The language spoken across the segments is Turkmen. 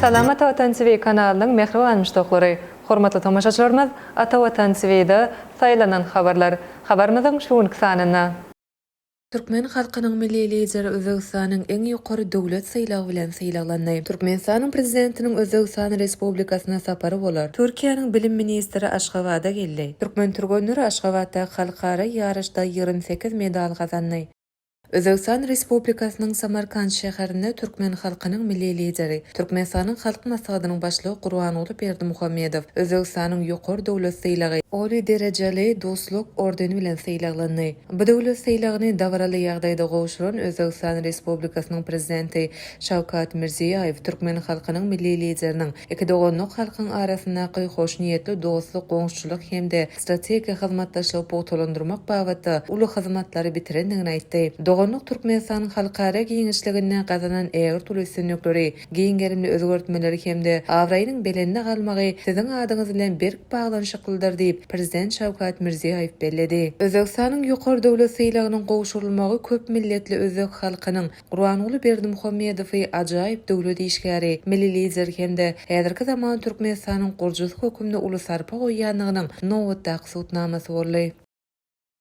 Salam Ata Watan TV kanalynyň mähriban muşdaklary! Hormatly tomaşaçylarymyz, Ata Watan TV-de Saýlanan habarlar habarymyzyň şu günki sanynda, Türkmen halkynyň Milli Lideri Özbegistanyň iň ýokary döwlet sylagy bilen sylaglandy. Türkmenistanyň Prezidentiniň Özbegistan Respublikasyna sapary bolar. Türkiýäniň Bilim ministri Aşgabada geldi. Türkmen türgenleri Aşgabatdaky halkara ýaryşda ýigrimi sekiz medal gazandy. Özbegistan Respublikasynyň Samarkant şäherinde Türkmen halkynyň Milli Lideri, Türkmenistanyň Halk Maslahatynyň Başlygy Gurbanguly Berdimuhamedow Özbegistanyň ýokary döwlet sylagy, Oliý derejeli Dostluk ordeni bilen sylaglandy. Bu döwlet sylagyny dabaraly ýagdaýda gowşuran Özbegistan Respublikasynyň Prezidenti Şawkat Mirziýaýew türkmen halkynyň Milli Lideriniň iki doganlyk halkyň arasyndaky hoşniýetli dostluk, goňşuçylyk hem-de strategik hyzmatdaşlygy pugtalandyrmak babatda uly hyzmatlary bitirendigini aýtdy. Doganlyk Türkmenistan halkara giňişliginde gazanan ägirt uly üstünlikleri, giň gerimli özgertmeleri hem-de abraýynyň belende galmagy Siziň adyňyz bilen berk baglanyşyklydyr diýip, Prezident Şawkat Mirziýoýew belledi. Özbegistanyň ýokary döwlet sylagynyň gowşurylmagy köp milletli özbek halkynyň Gurbanguly Berdimuhamedowy ajaýyp döwlet işgäri, milli lider hem-de häzirki zaman Türkmenistanyň gurjusy hökmünde uly sarpa goýýandygynyň nobatdaky subutnamasy boldy.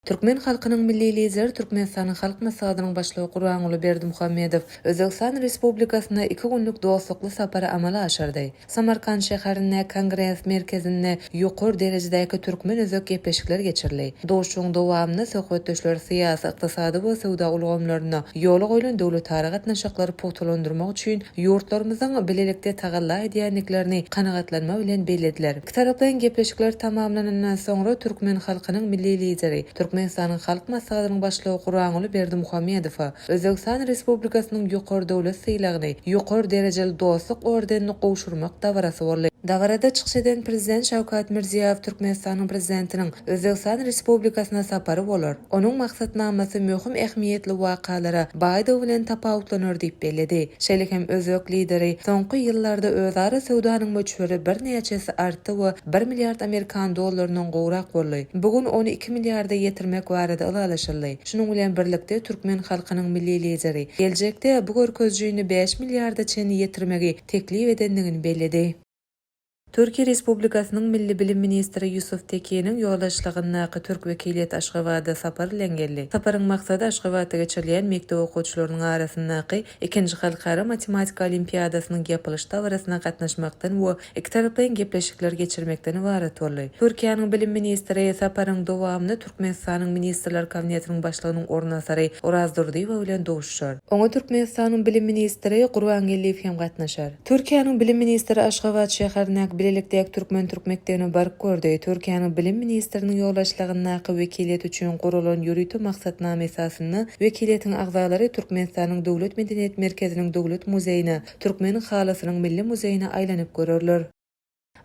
Türkmen halkynyň Milli Lideri Türkmenistanyň Halk Maslahatynyň Başlygy Gurbanguly Berdimuhamedow Özbegistan Respublikasyna iki günlük dostlukly sapary amala aşyrdy. Samarkant şäherinde Kongres merkezinde ýokary derejedäki türkmen-özbek gepleşikleri geçirildi. Duşuşygyň dowamynda söhbetdeşler syýasy, ykdysady we söwda ulgamlarynda ýola goýlan döwletara gatnaşyklary pugtalandyrmak üçin ýurtlarymyzyň bilelikde tagalla edýändiklerini kanagatlanma bilen bellediler. Ikitaraplaýyn gepleşikler tamamlanandan soňra türkmen halkynyň Milli Lideri, Türkmenistanyň Halk Maslahatynyň Başlygy Gurbanguly Berdimuhamedowa Özbegistan Respublikasynyň Ýokary döwlet sylagyny, Ýokary derejeli dostluk ordenini gowşurmak dabarasy boldy. Dabarada çykyş eden Prezident Şawkat Mirziýoýew Türkmenistanyň Prezidentiniň Özbegistan Respublikasyna sapary bolar. Onuň maksatnamasy möhüm ähmiýetli wakalara baýdygy bilen tapawutlanar diýip belledi. Şeýle hem özbek Lideri, Soňky ýyllarda özara söwdanyň möçberi birnäçe esse artdy we bir milliard amerikan dollaryndan gowrak boldy. Bu gün ony iki milliarda ýetirmek barada ylalaşyldy. Şunuň bilen birlikde türkmen halkynyň Milli Lideri geljekde bu görkezijini bäş milliarda çenli ýetirmegi teklip edendigini belledi. Türkiýe Respublikasynyň Milli bilim ministri Ýusuf Tekiniň ýoldaşlygyndaky türk wekiliýeti Aşgabada sapar bilen geldi. Saparyň maksady Aşgabatda geçirilýän mekdep okuwçylarynyň arasyndaky ikinji halkara matematika olimpiadasynyň ýapylyş dabarasyna gatnaşmakdan we ikitaraplaýyn gepleşikler geçirmekden ybarat boldy. Türkiýäniň bilim ministri saparyň dowamynda Türkmenistanyň Ministrler Kabinetiniň Başlygynyň orunbasary Oraz Durdyýewa bilen duşuşar. Oňa Türkmenistanyň bilim ministri Gurbangeldiýew hem gatnaşar. Türkiýäniň Bilim ministri Aşgabat şäherindäki bilelikdäki türkmen-türk mekdebini baryp gördi. Türkiýäniň Bilim ministriniň ýolbaşçylygyndaky wekiliýet üçin guralan ýörite maksatnama esasynda wekiliýetiň agzalary Türkmenistanyň Döwlet medeniýet merkeziniň Döwlet muzeýine, Türkmen halysynyň milli muzeýine aýlanyp görerler.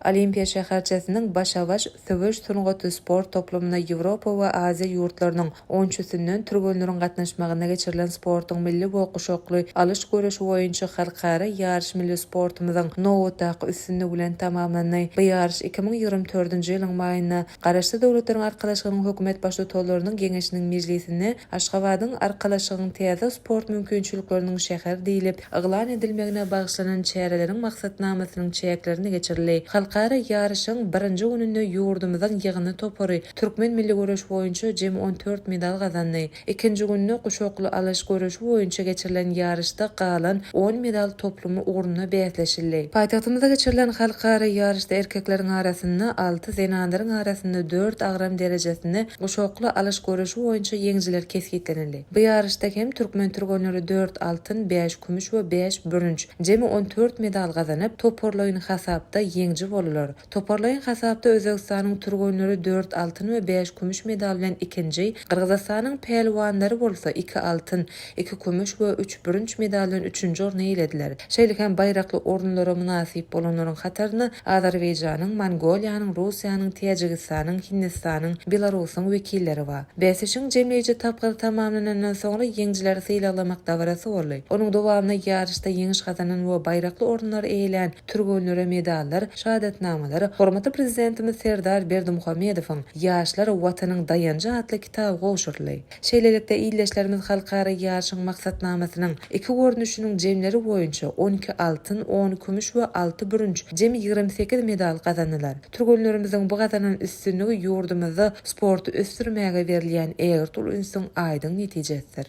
Olimpiýa şäherçesiniň Başa-baş söweş sungaty sport toplumyna Ýewropa we Aziýa ýurtlarynyň on üçüsinden türgenleriň gatnaşmagynda geçirilen sportuň milli we guşakly alyş göreşi boýunça halkara ýaryş milli sportumyzyň nobatdaky üstünligi bilen tamamlandy. Bu ýaryş iki müň ýigrimi dördünji ýylyň maýynda Garaşsyz Döwletleriň Arkalaşygynyň Hökümet Baştutanlarynyň Geňeşiniň mejlisinde Aşgabadyň Arkalaşygyň täze sport mümkinçilikleriniň şäher diýlip yglan edilmegine bagyşlanan çäreleriň maksatnamasynyň çäklerinde geçirildi. Halkara ýaryşyň birinji gününde ýurdumyzyň ýygyndy topary türkmen milli göreş boýunça jemi on dört medal gazandy. Ikinji günde guşakly alyş göreşi boýunça geçirilen ýaryşda galan on medal toplumy ugrunda bäsleşildi. Paýtagtymyzda geçirilen halkara ýaryşda erkekleriň arasynda alty, zenanlaryň arasynda dört agram derejesinde guşakly alyş göreşi boýunça ýeňijiler kesgitlenildi. Bu ýaryşda hem türkmen türgenleri dört altyn, bäş kümüş we bäş bürünç, jemi on dört medal gazanyp, toparlaýyn hasapda ýeňiji boldular. Toparlaýyn hasapda Özbegistanyň türgenleri dört altyn we bäş kümüş medal bilen ikinji, Gyrgyzystanyň pälwanlary bolsa iki altyn, iki kümüş we üç bürünç medal bilen üçünji orny eýelediler. Şeýle hem baýrakly orunlara mynasyp bolanlaryň hataryna Azerbaýjanyň, Mongoliýanyň, Russiýanyň, Täjigistanyň, Hindistanyň, Belarusyň wekilleri bar. Bäsleşigiň jemleýji tapgyry tamamlanandan soňra ýeňijileri sylaglamak dabarasy boldy. Onuň dowamynda ýaryşda ýeňiş gazanan we baýrakly orunlary eýelän, Türgenlere medallar, şahadatnamalar, hormatly Prezidentimiz Serdar Berdimuhamedowyň Ýaşlar, Watanyň daýanjy atly kitaby gowşuryldy. Şeýlelikde, ildeşlerimiz halkara ýaryşyň maksatnamasynyň iki görnüşiniň jemleri boýunça on iki altyn, on kümüş we alty bürünç, jemi ýigrimi sekiz medal gazandylar. Türgenlerimiziň bu gazanan üstünligi ýurdumyzda sporty ösdürmäge berilýän ägirt uly ünsüň aýdyň netijesidir.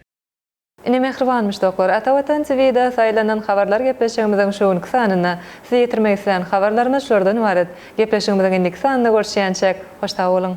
Ine mähribanmyş doklar. Ata Watan TVda saýlanan habarlar gepleşigimiziň şu günki sanynda. Size ýetirmek islän habarlarymyz şulardan ybarat. Gepleşigimiziň indiki sanynda görüşýänçäk, hoş sag boluň!